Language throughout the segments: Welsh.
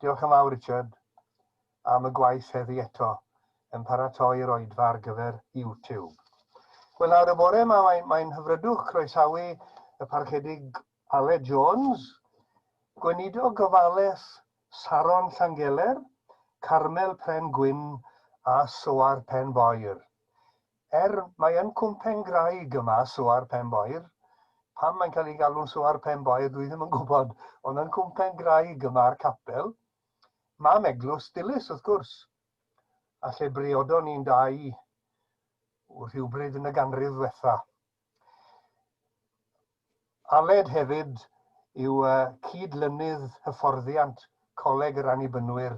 Diolch yn fawr, Richard, am y gwaith heddi eto yn paratoi'r oedfa ar gyfer YouTube. Wel nawr y bore yma mae'n mae hyfrydwch croesawu y Parchedig Aled Jones, Gweinidog Gofales Saron Llangeler, Carmel Pren Gwyn a Soar Pen Boer. Er mae yn cwmpen graig yma, Soar Pen Boer, pam mae'n cael ei galw'n Soar Pen Boer dwi ddim yn gwybod, ond yn cwmpen graig yma a'r capel, mam eglwys Dilys wrth gwrs, a lle briodon ni'n dau rhywbryd yn y ganrif ddwetha. Aled hefyd yw cyd-lynydd hyfforddiant Coleg yr Annibynwyr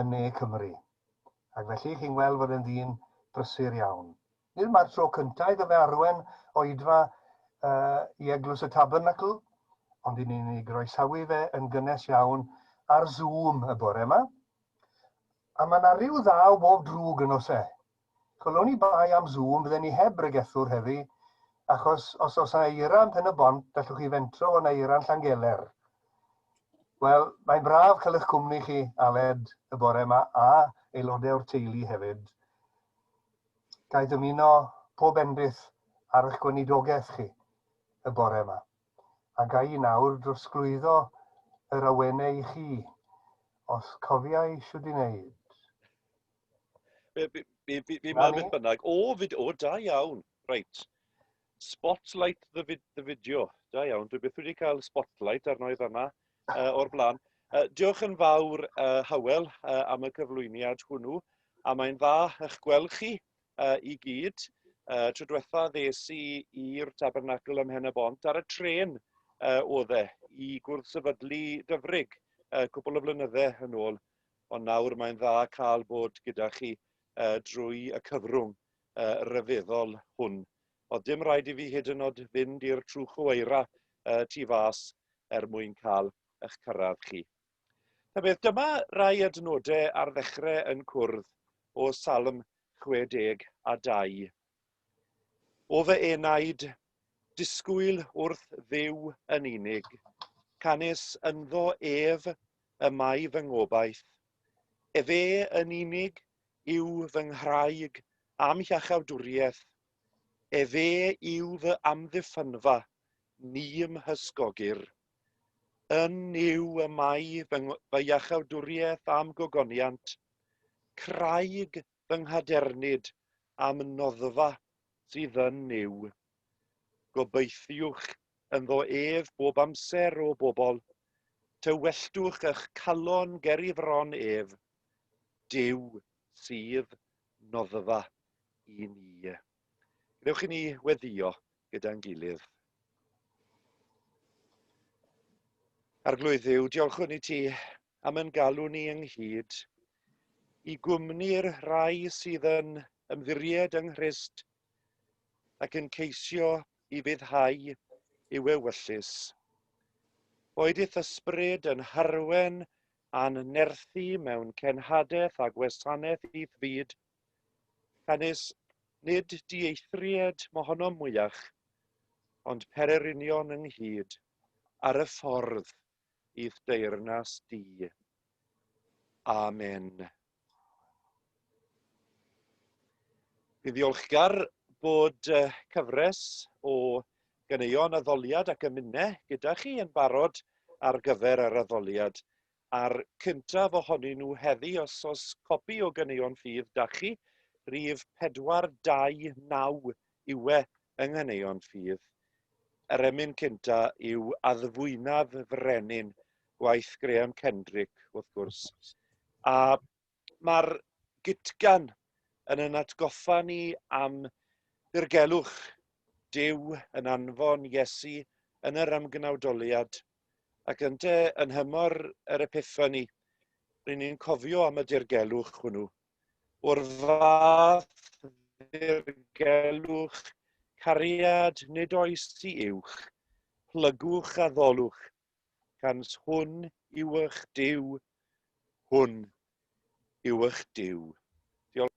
yn Ne Cymru, ac felly chi'n gweld fod e'n ddyn brysur iawn. Nid yma'r tro cyntaf iddo fe arwain oedfa i Eglwys y Tabernacl, ond i ni'n ei groesawu fe yn gynnes iawn ar Zoom y bore yma. A mae yna ryw ddaw bob drwg yn oes e? Wel oni bai am Zoom fydden ni heb bregethwr heddi, achos os oes yna eira yn Pen y Bont, gallwch chi fentro fo na eira yn Llangeler. Wel, mae'n braf cael eich cwmni chi, Aled, y bore yma, a aelodau o'r teulu hefyd. Ga'i dymuno pob endith ar eich gweinidogaeth chi y bore yma. A ga'i nawr drosglwyddo yr awenau i chi, os cofiai siwd i wneud. Fi, fi, fi, fi, fi mor beth bynnag. O, fid, o, da iawn. Reit. Spotlight the, vid, the video. Da iawn. Dwi beth wedi cael spotlight arno i fanna uh, o'r blaen. Uh, diolch yn fawr, uh, Howell, uh, am y cyflwyniad hwnnw. A mae'n dda eich gweld chi uh, i gyd. Uh, tro diwetha ddes i i'r tabernacl ym Mhen y Bont ar y tren uh, oedd e i gwrdd sefydlu dyfrig uh, cwbl o flynyddau yn ôl. ond nawr mae'n dda cael bod gyda chi yy drwy y cyfrwng yy ryfeddol hwn. O'dd dim raid i fi hyd yn o'd fynd i'r trwchw eira yy tu fas er mwyn cael ych cyrradd chi. Ta beth, dyma rai adnode ar ddechre yn cwrdd o Salm 62. O fy enaid, disgwyl wrth Dduw yn unig, canys ynddo ef y mae fy ngobaith. Efe yn unig yw fy nghraig a'm hiachawdwriaeth, efe yw fy amddiffynfa, ni'm hysgogir. Yn Nuw y mae fy iachawdwriaeth a'm gogoniant, craig fy nghadernid am noddfa sydd yn Nuw. Gobeithiwch ynddo ef bob amser, O bobl, tywelltwch ych calon ger i fron ef, Duw sydd noddfa i ni. Gadewch i ni weddio gyda'n gilydd. Arglwydd Dduw, diolchwn i ti am ein galw ni ynghyd i gwmni'r rhai sydd yn ymddiried yng Nghrist ac yn ceisio i fuddhau i'w ewyllys. Boed i'th ysbryd yn harwen a'n nerthu mewn cenhadaeth a gwasanaeth i'th fyd, canys nid dieithried mohonom mwyach, ond pererinion ynghyd ar y ffordd. i'th deyrnas di. Amen. Fi'n ddiolchgar bod cyfres o ganeuon addoliad ac ymune gyda chi yn barod ar gyfer yr addoliad. A'r cyntaf ohonyn nhw heddi, os os copi o ganeuon ffydd da chi, rhif 429 yw e yng Nghaneuon Ffydd, yr emyn cynta yw addfwynaf y frenin, gwaith Graham Kendrick, wrth gwrs. A mae'r gytgan yn yn atgoffa ni am ddirgelwch Duw yn anfon Iesu yn yr ymgnawdoliad, ac ynte yn nhymor yr Epiffani, ry'n ni'n cofio am y dirgelwch hwnnw. o'r fath ddirgelwch cariad nid oes i uwch, plygwch a ddolwch, gans hwn yw ych Duw, hwn yw ych Duw. Diolch.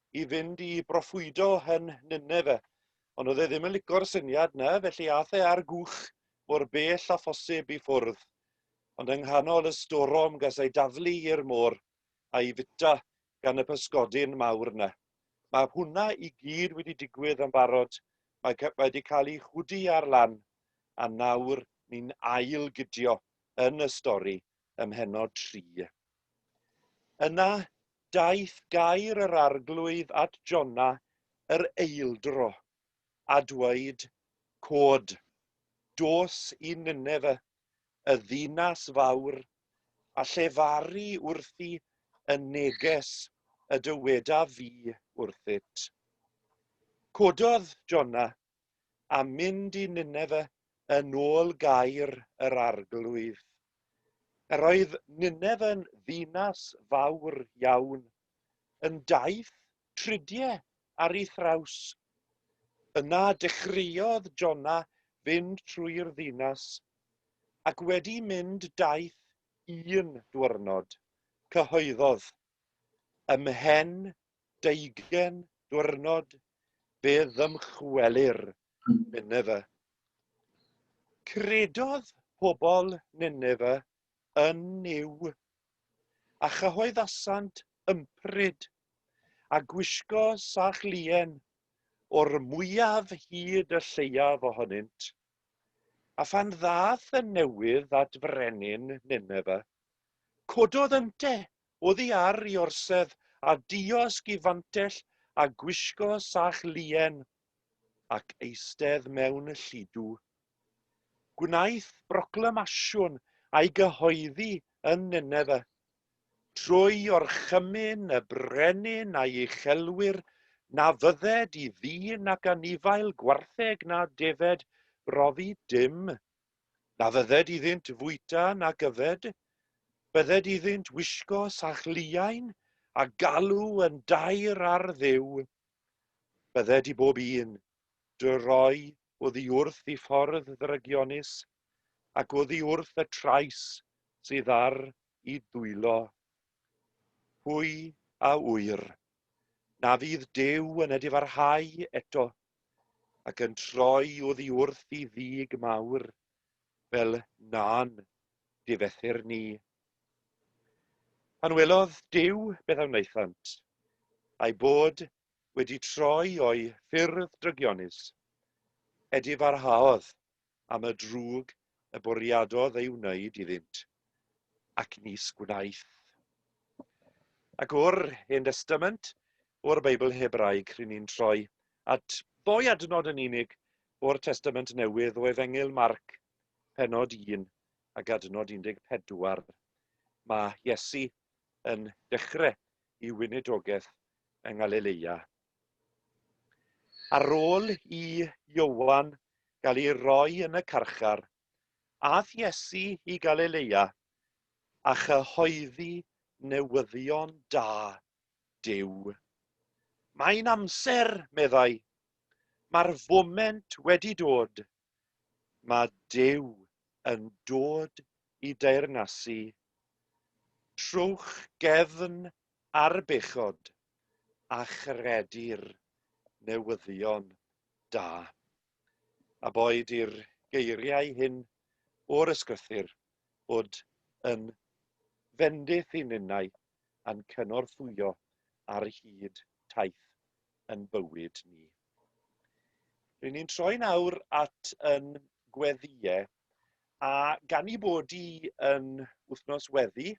i fynd i broffwydo yn Nineve. Ond oedd e ddim yn licio'r syniad yna, felly ath e ar gwch mor bell â phosib i ffwrdd. Ond yng nghanol y storom ges ei daflu i'r môr a'i fwyta gan y pysgodyn mawr yna. Mae hwnna i gyd wedi digwydd yn barod, mae mae wedi cael ei chwdu ar lan, a nawr ni'n ail-gydio yn y stori. ym mhennod tri. Yna daeth gair yr Arglwydd at Jona yr eildro, a dweud, Cod, dos i Nineve, y ddinas fawr, a llefaru wrthi y neges y dywedaf fi wrthyt. Cododd Jona a mynd i Nineve yn ôl gair yr Arglwydd. Yr oedd Nineve yn ddinas fawr iawn, yn daith tridie ar ei thraws. Yna dechreuodd Jona fynd trwy'r ddinas, ac wedi mynd daith un dwyrnod, cyhoeddodd, Ymhen 20 diwrnod fe ddymchwelir Nineve. Credodd pobl Nineve yn Nuw, a chyhoeddasant ympryd, a gwisgo sach lien, o'r mwyaf hyd y lleiaf ohonynt. A phan ddaeth y newydd at frenin Nineve, cododd ynte Oddi ar 'i orsedd a diosg 'i fantell a gwisgo sach luen, ac eistedd mewn y lludw. Gwnaeth broclamasiwn a'i gyhoeddi yn Nineve, trwy orchymyn y brenin a'i uchelwyr, na fydded i ddyn ac anifail gwartheg na defaid brofi dim Na fydded iddynt fwyta nac yfed, bydded iddynt wisgo sach liain, a galw yn daer ar Dduw. Bydded i bob un, dy roi oddi wrth i ffordd ddrygionus, ac oddi wrth y trais sydd ar i dwylo. Pwy a ŵyr, na fydd Duw yn edifarhau eto ac yn troi oddi wrth i ddig mawr, fel na'n difethr ni. Pan welodd Duw beth a wnaethant, a'i bod wedi troi o'i ffyrdd drygionus, edifarhaodd am y drwg y bwriadodd ei wneud iddynt, ac nis gwnaeth. Ac o'r Hen Destament, o'r Beibl Hebraeg, rŷn ni'n troi at ddou adnod yn unig o'r Testament Newydd, o Efengyl Marc, pennod 1 ac adnod 14. Mae Iesu yn dechrau i weinidogaeth yng Ngalileia. Ar ôl i Ioan gael ei roi yn y carchar, aeth Iesu i Galilea a chyhoeddi newyddion da Duw. Mae'n amser, meddai. Mae'r foment wedi dod. mae Duw yn dod i deyrnasu trwch gefn ar bechod a chredir newyddion da. A boed i'r geiriau hyn o'r Ysgrythyr fod yn fendith i ninnau a'n cynorthwyo ar hyd taith yn bywyd ni. Rydyn ni'n troi nawr at yn gweddiau, a gan i bod i yn wythnos weddi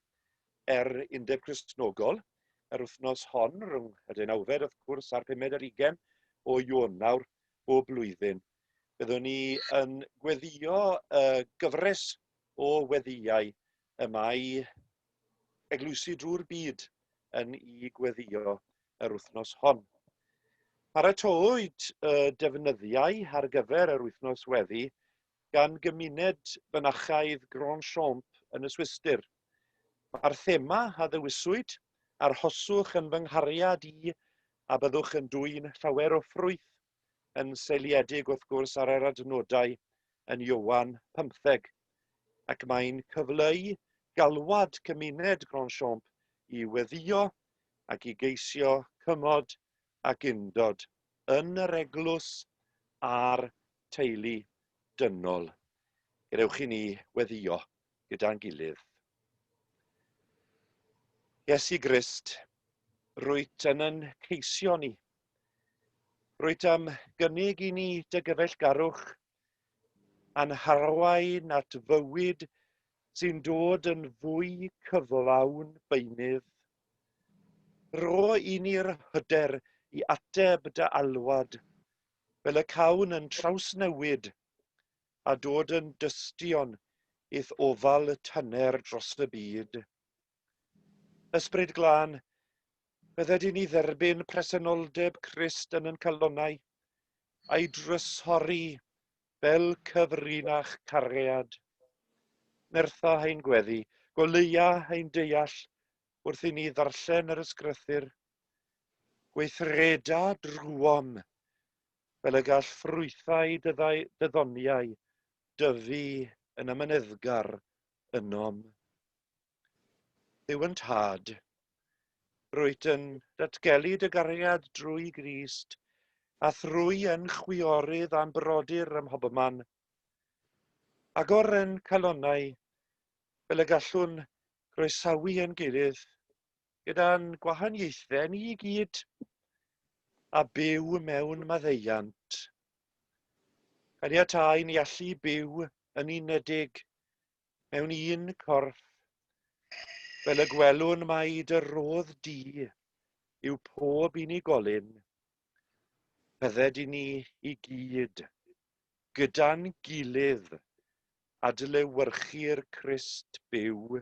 er undeb Cresnogol, yr wythnos hon, rhwng y deunawfed wrth gwrs a'r pumed ar ugen o Ionawr o blwyddyn, byddwn ni yn gweddio y gyfres o weddiau y mae eglwysi drwy'r byd yn ei gweddio yr wythnos hon. Paratowyd y defnyddiau ar gyfer yr wythnos weddi gan gymuned fynachaidd Grand Champ yn y Swistir. Mae'r thema a ddewiswyd, arhoswch yn fy nghariad i a byddwch yn dwyn llawer o ffrwyth. yn seiliedig wrth gwrs ar yr adnodau yn Ioan 15 ac mae'n cyfleu galwad cymuned Grandchamp i weddïo ac i geisio cymod ac undod yn yr eglwys a'r teulu dynol. Gadewch i ni weddïo gyda'n gilydd. Iesu Grist, rwyt yn yn ceisio ni Rwyt am gynnig i ni dy gyfeillgarwch a'n harwain at fywyd sy'n dod yn fwy cyflawn beunydd. Rho i ni'r hyder i ateb dy alwad fel y cawn yn trawsnewid a dod yn dystion i'th ofal tyner dros y byd. Ysbryd Glân, byddet yn ni dderbyn presenoldeb Crist yn yn calonnau, a'i drysori fel cyfrinach cariad. Nertha ein gweddi, goleuia ein deall wrth i ni ddarllen yr ysgrythyr. Gweithreda drwom, fel y gall ffrwythau dyddoniau dyfu yn amyneddgar ynom. Duw yn Tad, rwyt yn datgelu dy gariad drwy Grist, a thrwy yn chwiorydd a'n brodyr ym mhobman. Agor yn calonnau fel y gallwn groesawu yn gilydd, gyda'n gwahaniaethau ni i gyd, a byw mewn maddeuant. Caniatáu ni allu byw yn unedig mewn un corff, fel y gwelwn mai dy rodd di yw pob unigolyn, bydded i ni i gyd, gyda'n gilydd, adlewyrchu'r Crist byw.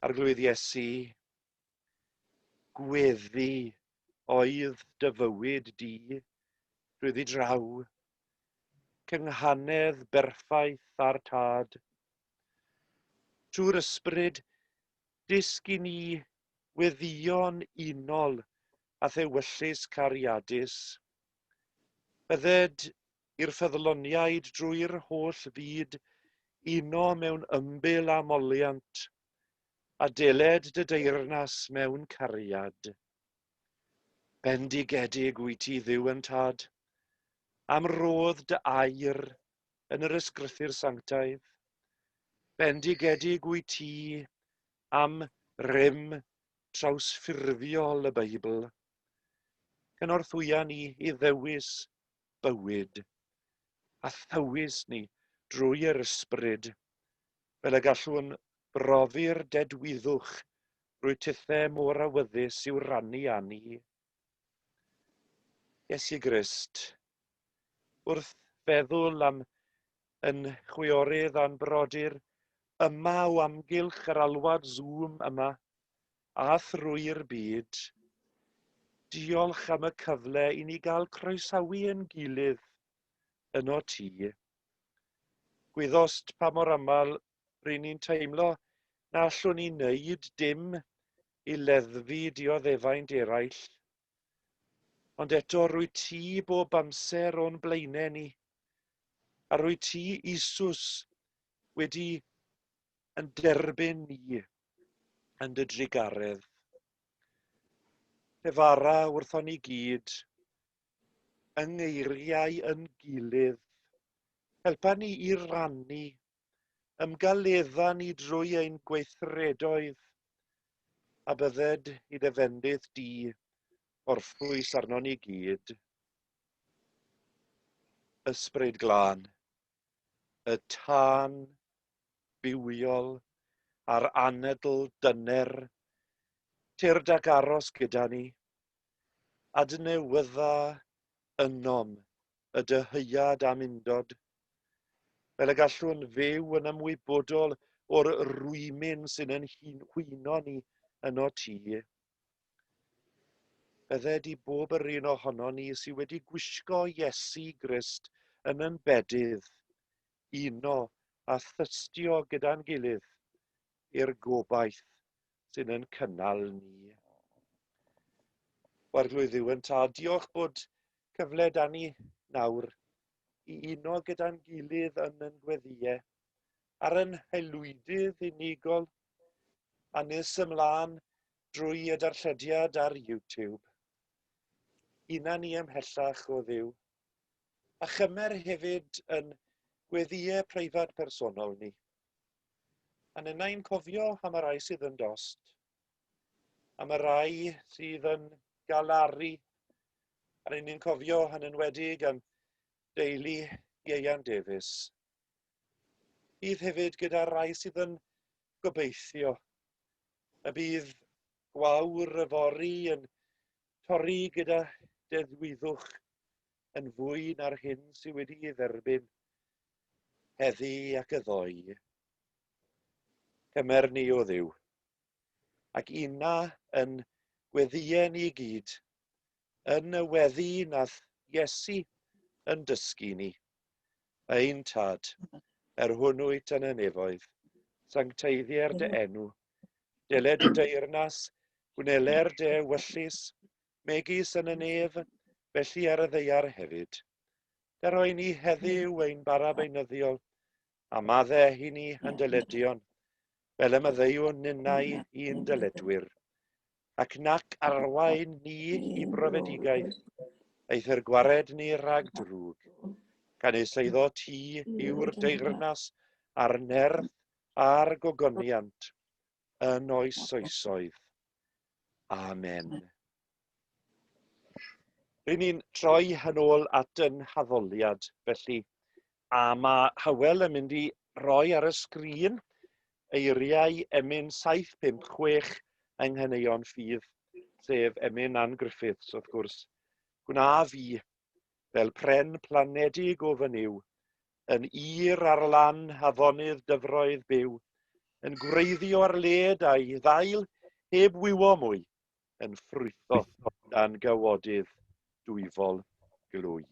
Arglwydd Iesu, gweddi oedd dy fywyd di, rhwyddi draw, cynghanedd berffaith â'r Tad. Trwy'r ysbryd, dysg i ni weddïo'n unol â thewyllys cariadus. Bydded i'r ffyddloniaid drwy'r holl fyd uno mewn ymbil a moliant, A dyled dy deyrnas mewn cariad. Bendigedig wyt ti, Dduw yn Tad, am rodd dy air yn yr ysgrythur sanctaidd. Bendigedig wyt ti am rym trawsffurfiol y Beibl. Cynorthwya ni i ddewis bywyd, a thywys ni drwy yr ysbryd fel y gallwn brofi'r dedwyddwch drwy tithau mor awyddus i'w rannu â ni. Iesu Grist, wrth feddwl am yn chwiorydd a'n brodyr yma o amgylch yr alwad Zoom yma a thrwy'r byd, diolch am y cyfle i ni gael croesawu ein gilydd yno ti. Gwyddost pa mor aml ry'n ni'n teimlo na allwn ni wneud dim i leddfu dioddefaint eraill, ond eto rwy ti bob amser o'n blaenau ni, a rwy ti, Isus, wedi yn derbyn ni yn dy drugaredd. Pe fara wrthon ni gyd, yng ngeiriau yn gilydd. Helpa ni i rannu ymgaledda ni drwy ein gweithredoedd, a bydded i dy fendith di orffwys arno ni gyd. Ysbryd glân, y tân bywiol a'r anedl dyner, tyrd ac aros gyda ni, adnewydda ynom y dyheuad am undod, fel y gallwn fyw yn ymwybodol o'r rwymyn sy'n yn hwyno ni yno ti. Bydde di bob yr un ohono ni sydd wedi gwisgo Iesu Grist yn yn bedydd, uno a thystio gyda'n gilydd i'r gobaith sy'n yn cynnal ni. Warglwydd Iwan Ta, diolch bod cyfle da ni nawr i uno gyda'n gilydd yn yn gweddiau ar yn haelwydydd unigol a nes ymlaen drwy y darllediad ar YouTube. Una ni ymhellach o ddiw. A chymer hefyd yn gweddiau preifat personol ni. A nynna i'n cofio am y rai sydd yn dost, am y rai sydd yn galaru, a rydyn ni'n cofio yn enwedig am deulu Ieian Davies. Bydd hefyd gyda'r rai sydd yn gobeithio y bydd gwawr y fori yn torri gyda deddwyddwch yn fwy na'r hyn sydd wedi ei dderbyn heddi ac yddoi, Cymer ni o ddiw, ac una yn gweddïau ni gyd, yn y weddi nath Iesu yn dysgu ni, ein Tad, er hwn wyt yn y nefoedd, sancteiddier dy enw, deled y deyrnas, gwnele'r de wyllus, megis yn y nef, felly ar y ddeiar hefyd. Yr oen ni heddiw ein bara beunyddiol, a madde hi ni yn dyledion, fel y myddeiwn ninnau i'n dyledwyr, ac nac arwain ni i brofedigaeth, eith yr gwared ni rhag drwg, gan ei seiddo ti yw'r deyrnas a'r nerth a'r gogoniant yn oes oesoedd. Amen. Rydyn ni'n troi yn ôl at yn haddoliad, felly, a mae Hywel yn mynd i roi ar y sgrin eiriau emyn 756 yng Nghaneuon Ffydd, sef emyn Ann Griffiths, wrth gwrs. Gwna fi, fel pren planedig o fy niw, yn ir ar lan afonydd dyfroedd byw, yn gwreiddio ar led a'i ddail heb wywo mwy, yn ffrwytho dan gawodydd dwyfol glwy.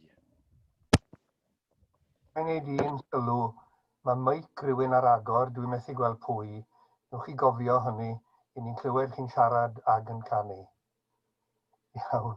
Mae'n ei ddyn sylw. Mae meic rywun ar agor, dwi methu gweld pwy. Newch chi gofio hynny, 'yn ni'n clywed chi'n siarad ag yn canu. Iawn.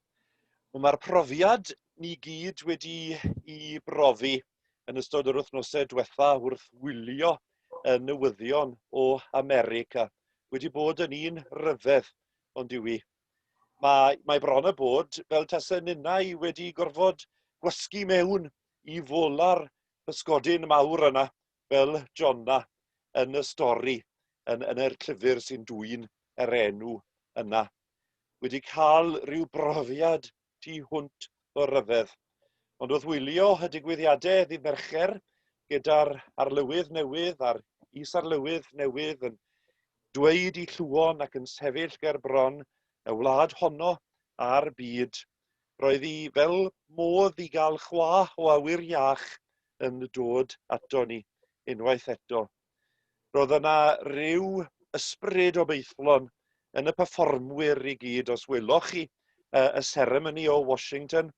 Wel mae'r profiad ni gyd wedi'i brofi yn ystod yr wythnosau diwetha' wrth wylio y newyddion o America wedi bod yn un rhyfedd ond yw 'i. Mae mae bron a bod fel tase ninnau wedi gorfod gwasgu mewn i fola'r pysgodyn mawr yna fel Jonna yn y stori yn yn yr llyfyr sy'n dwyn yr enw yna wedi ca'l ryw brofiad tu hwnt o ryfedd ond wrth wylio y digwyddiade ddydd Mercher gyda'r arlywydd newydd a'r is-arlywydd newydd yn dweud 'i lluon ac yn sefyll ger bron y wlad honno a'r byd Roedd hi fel modd i gael chwa o awyr iach yn dod ato ni unwaith eto. Roedd yna ryw ysbryd obeithlon yn y perfformwyr i gyd, os weloch chi uh, y seremoni o Washington,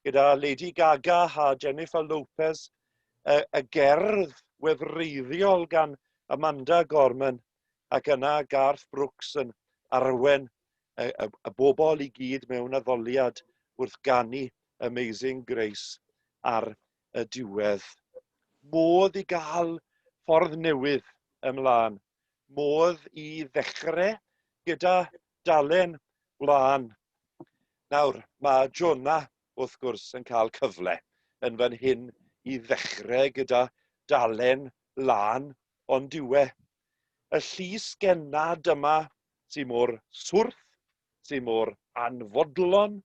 gyda Lady Gaga a Jennifer Lopez, y, y gerdd wefreiddiol gan Amanda Gorman, ac yna Garth Brooks yn arwen y, y, y bobl i gyd mewn addoliad wrth ganu Amazing Grace ar y diwedd. Modd i gael ffordd newydd ymlaen. Modd i ddechrau gyda dalen wlân. Nawr, mae Jonah, wrth gwrs, yn cael cyfle yn fan hyn i ddechrau gyda dalen wlân lân ond yw e. Y llys gennad yma sy mor swrth, sy mor anfodlon,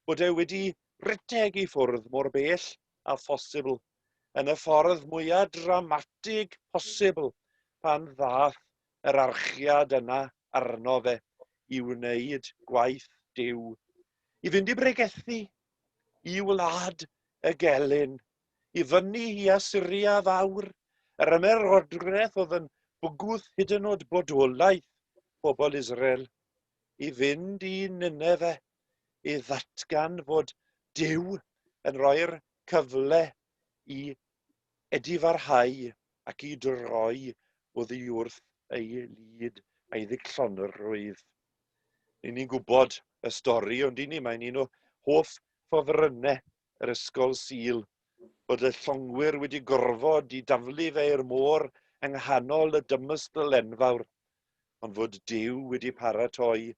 bod e wedi rhedeg i ffwrdd mor bell â phosibl, yn y ffordd mwya dramatig posibl, pan ddaeth yr archiad yna arno fe i wneud gwaith Duw, i fynd i bregethu i wlad y gelyn. i fyny i Asyria Fawr, yr ymerodraeth oedd yn bygwth hyd yn oed bodolaeth pobl Israel, i fynd i Ninefe i ddatgan fod Duw yn rhoi'r cyfle i edifarhau ac i droi oddi wrth ei lid a'i ddichllonrwydd. Ni'n ni'n gwybod y stori, ond i ni mae'n un o hoff ffofrynnau yr Ysgol Sul bod y llongwyr wedi gorfod i daflu fe i'r môr yng nghanol y dymystl enfawr, ond fod Duw wedi paratoi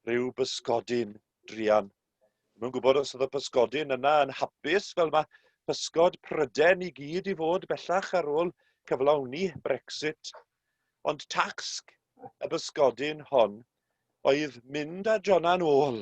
rhyw bysgodyn druan. Ddim yn gwybod os oedd y pysgodyn yna yn hapus fel mae pysgod Pryden i gyd i fod bellach ar ôl cyflawni Brexit. Ond tasg y bysgodyn hon oedd mynd â Jona'n ôl.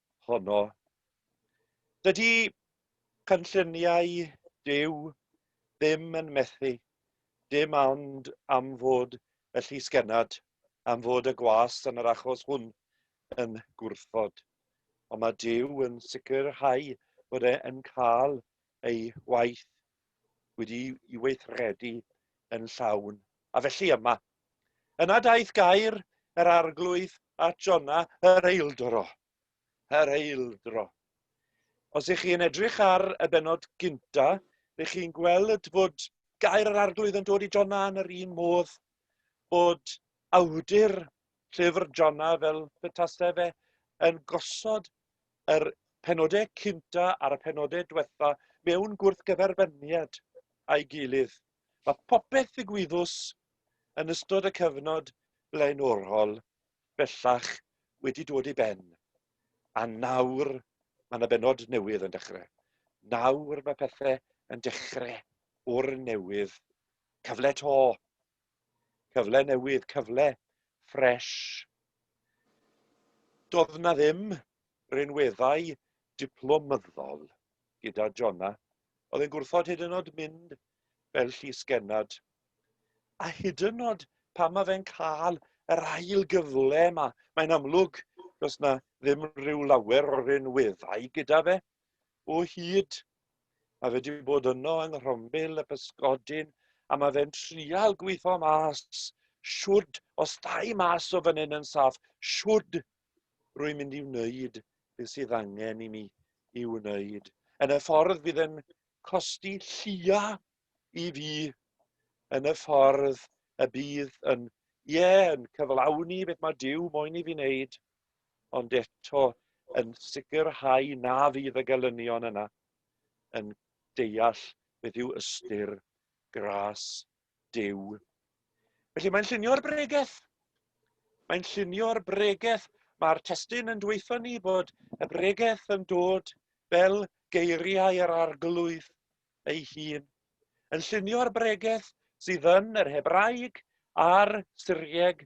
honno. Dydy cynlluniau Duw ddim yn methu, dim ond am fod y llysgennad, am fod y gwas yn yr achos hwn yn gwrthod. Ond mae Duw yn sicrhau bod e'n cael ei waith wedi i weithredu yn llawn. A felly yma, Yna daeth gair yr arglwydd at Jona, yr eildro. Yr eildro. Os ych chi'n edrych ar y benod gynta, ych chi'n gweld bod gair yr arglwydd yn dod i Jona yn yr un modd bod awdur llyfr Jona fel y tasau fe yn gosod yr penodau cynta a'r penodau diwetha mewn gwrthgyferbyniad a'i gilydd. Mae popeth ddigwyddus yn ystod y cyfnod blaenorol bellach wedi dod i ben, a nawr mae 'na bennod newydd yn dechrau. Nawr mae pethe yn dechrau o'r newydd. Cyfle 'to. Cyfle newydd, cyfle ffresh. Do'dd 'na ddim rinweddau diplomyddol gyda Jonna. Oedd e'n gwrthod hyd yn oed mynd fel llys genad. A hyd yn oed pan mae fe'n cael yr ail gyfle yma, mae'n amlwg does na ddim rhyw lawer o rinweddau gyda fe. O hyd, mae fe wedi bod yno yng Nghrombil y Pysgodyn, a mae fe'n trial gweithio mas siwrd, os dau mas o fan hyn yn saff, siwrd rwy'n mynd i wneud beth sydd angen i mi i wneud. Yn y ffordd bydd yn costi llia i fi, yn y ffordd y bydd yn, ie, yeah, yn cyflawni beth mae Dyw moyn i fi wneud, ond eto yn sicrhau na fydd y gelynion yna yn deall beth yw ystyr gras Duw. Felly mae'n llunio'r bregeth. Mae'n llunio'r bregeth. Mae'r testyn yn dweithio ni bod y bregeth yn dod fel geiriau yr arglwydd ei hun. Yn llunio'r bregeth sydd yn yr Hebraeg a'r Syrieg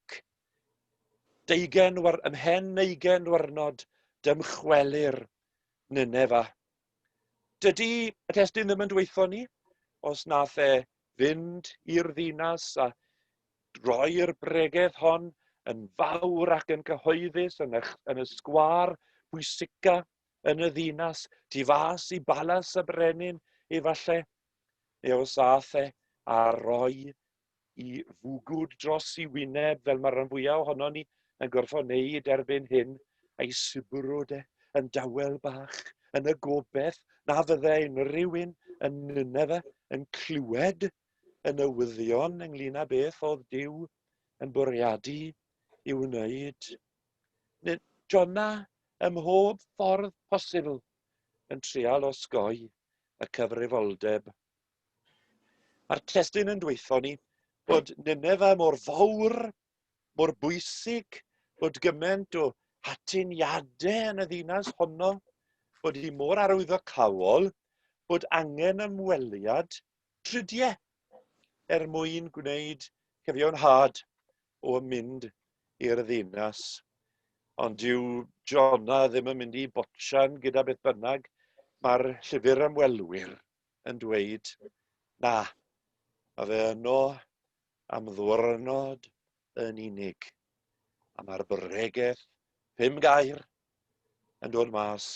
Ac, deugen war- ymhen neugen warnod, dymchwelir Nineva. Dydy y testyn ddim yn dweithio ni os nath e fynd i'r ddinas a droi'r bregeth hon yn fawr ac yn cyhoeddus yn y, yn y sgwar bwysica yn y ddinas, tu fas i balas y brenin, efallai, neu os ath e a roi i fwgwd dros i wyneb fel mae'r rhan fwyaf ohono ni yn gorfod wneud erbyn hyn, a'i sibwrwd e yn dawel bach yn y gobeith na fydde unrhyw un yn Nineve yn clywed y newyddion ynglyn â beth oedd Dyw yn bwriadu i'w wneud. Jona ym mhob ffordd posibl yn trial osgoi y cyfrifoldeb Mae'r testun yn dweithio ni bod Nineve mor fawr, mor bwysig, bod gymaint o atyniadau yn y ddinas honno, bod hi mor arwyddocaol, bod angen ymweliad tridiau er mwyn gwneud cyfiawnhad o mynd i'r ddinas. Ond dyw Jona ddim yn mynd i botchan gyda beth bynnag. Mae'r llyfr ymwelwyr yn dweud, Na, mae fe yno am ddwrnod yn unig. A mae'r bregeth, pum gair, yn dod mas.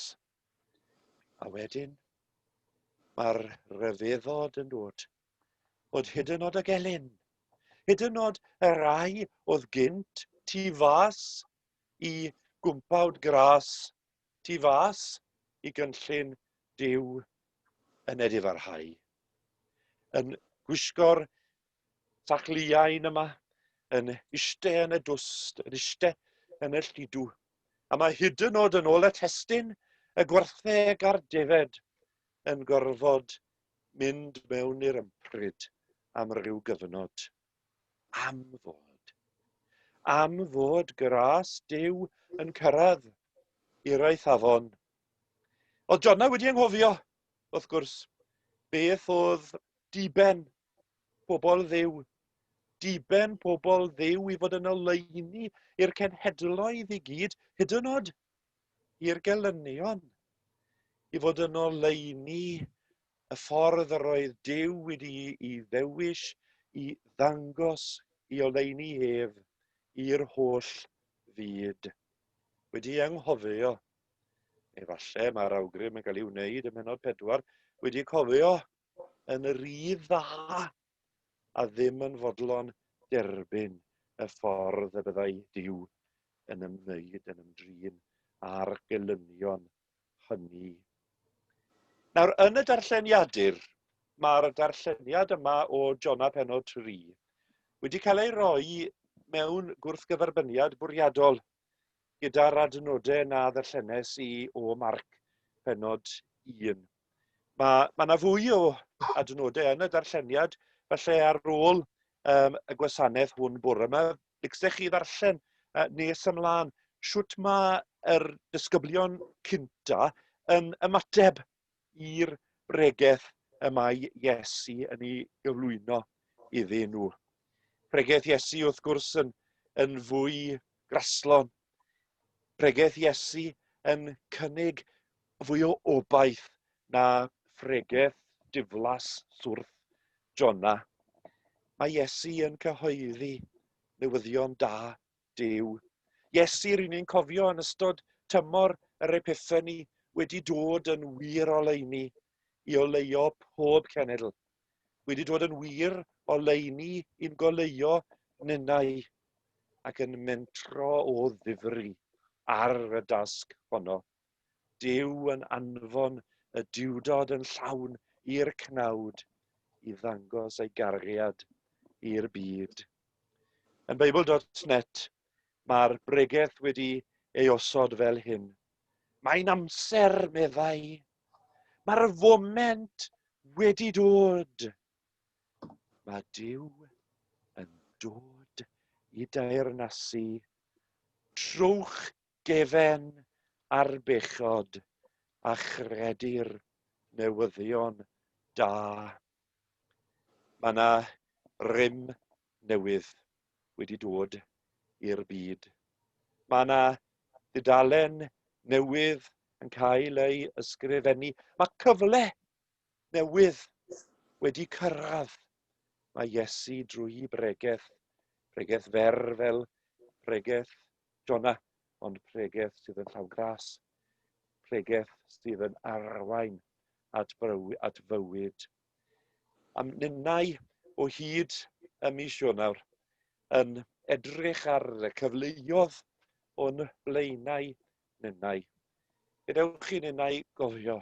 A wedyn, mae'r rhyfeddod yn dod, bod hyd yn oed y gelyn, hyd yn oed y rai oedd gynt tu fas i gwmpawd gras tu fas i gynllun Duw yn edifarhau, yn gwisgo'r sachliain yma, yn iste yn y dwst, yn iste yn y llidw. A mae hyd yn oed yn ôl y testyn, y gwartheg a'r defed yn gorfod mynd mewn i'r ympryd am ryw gyfnod. Am fod. Am fod gras Duw yn cyrraedd i'r eithafon. Oedd Jonna wedi enghofio, wrth gwrs, beth oedd diben pobl ddiw, diben pobl ddiw i fod yn oleini i'r cenhedloedd i gyd, hyd yn oed i'r gelynion, i fod yn oleini y ffordd yr oedd Duw wedi'i ddewis i ddangos i oleuni ef i'r holl fyd. Wedi anghofio, neu falle mae'r awgrym yn cael ei wneud ym mhenod pedwar, wedi cofio yn y rydd dda a ddim yn fodlon derbyn y ffordd y byddai Duw yn ymwneud yn ymdrin â'r gelynion hynny. Nawr, yn y darlleniadur, mae'r darlleniad yma o Jona Penod 3 wedi cael ei roi mewn gwrthgyferbyniad bwriadol gyda'r adnodau na ddarllenes i o Marc Penod 1. Mae ma 'na fwy o adnodau yn y darlleniad, falle ar ôl um, y gwasanaeth hwn bore yma, bygsech chi ddarllen uh, nes ymlaen sut mae yr disgyblion cynta yn ymateb i'r bregeth y mae Iesu yn ei gyflwyno iddyn nhw. Pregeth Iesu wrth gwrs yn, yn fwy graslon. Pregeth Iesu yn cynnig Fwy o obaith na phregeth diflas swrth Jona, mae Iesu yn cyhoeddi newyddion da Duw. Iesu, ry'n ni'n cofio yn ystod tymor yr Epiffeni, wedi dod yn wir oleuni i oleio pob cenedl, wedi dod yn wir oleuni i'n goleio ninnau, ac yn mentro o ddifri ar y dasg honno. Duw yn anfon y Duwdod yn llawn i'r cnawd i ddangos ei gariad i'r byd. Yn Beibl.net mae'r bregeth wedi ei osod fel hyn. Mae'n amser, meddai. Mae'r foment wedi dod. Mae Duw yn dod i deyrnasu. Trowch Defen ar bechod a chredu'r newyddion da. Mae yna rym newydd wedi dod i'r byd. Mae yna dudalen newydd yn cael ei ysgrifennu. Mae cyfle newydd wedi cyrraedd. Mae Iesu drwy bregeth, pregeth fer fel pregeth Jona, ond pregeth sydd yn llawn gras, pregeth sydd yn arwain at, at fywyd. Am ninnau o hyd y mis Ionawr, yn edrych ar y cyfleodd o'n blaenau Ninnau. Gadewch chi ninnau gofio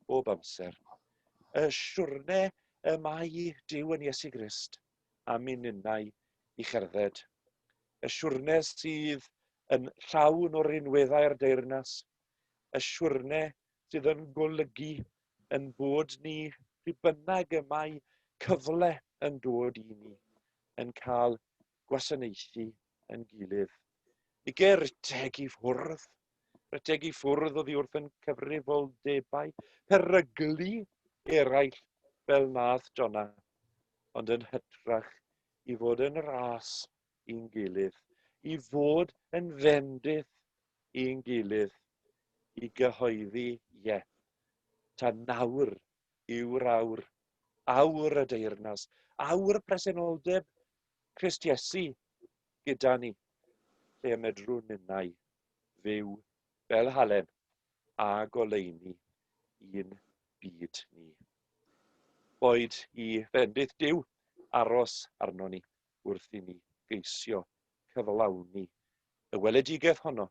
bob amser y siwrne y mae Duw yn Iesu Grist am i ninnau i cherdded. Y siwrne sydd yn llawn o rinweddau'r deyrnas, y siwrne sydd yn golygu yn bod ni, pryd bynnag y mae cyfle yn dod i ni, yn cael gwasanaethu yn gilydd. Ige ryteg i ffwrdd. Ryteg i ffwrdd oddi wrth yn cyfrifoldebau peryglu eraill fel nath Donna, ond yn hytrach i fod yn ras i'n gilydd, i fod yn fendith i'n gilydd, i gyhoeddi ie. Ta nawr yw'r awr, awr y deyrnas, awr presenoldeb Crist Iesu gyda ni, lle y medrwn ninnau fyw fel halen a goleuni i'n byd ni. Boed i fendith Duw aros arno ni wrth i ni geisio cyflawni y weledigaeth honno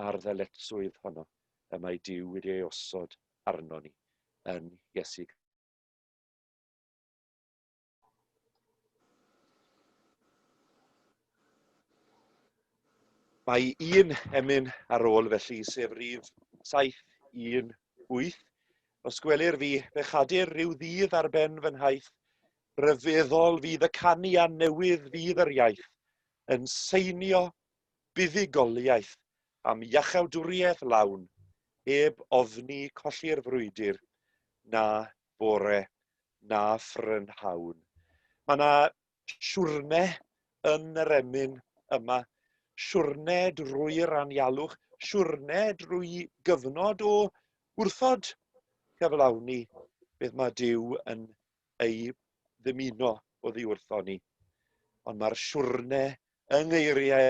a'r ddyletswydd honno y mae Duw wedi ei osod arno ni yn Iesu Mae un emyn ar ôl felly, sef rif 718. Os gwelir fi, fe chadir rhyw ddydd ar ben fy nhaith, rhyfeddol fydd y canu a newydd fydd yr iaith, yn seinio buddugoliaeth am iachawdwriaeth lawn, heb ofni colli'r frwydr, na bore na phrynhawn. Mae yna siwrne yn yr emyn yma, siwrne drwy'r anialwch, siwrne drwy gyfnod o wrthod cyflawni beth mae Dyw yn ei ddymuno o ddiwrtho ni. Ond mae'r siwrne yng ngeiriau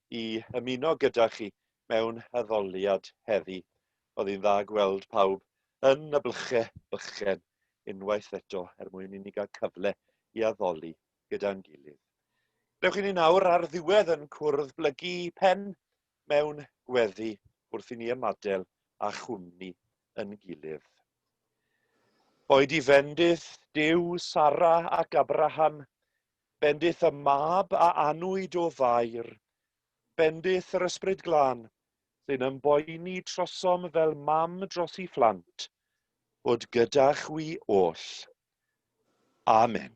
i ymuno gyda chi mewn addoliad heddi. Oedd hi'n dda gweld pawb yn y blyche bychen unwaith eto er mwyn i ni gael cyfle i addoli gyda'n gilydd. Rewch i ni nawr ar ddiwedd yn cwrdd blygu pen mewn gweddi wrth i ni ymadel a chwmni yn gilydd. Oed i fendith, Dyw, Sara ac Abraham, Bendith y Mab a anwyd o Fair. Bendith yr Ysbryd Glân, sy'n ymboeni trosom fel mam dros 'i phlant, fod gyda chwi oll. Amen.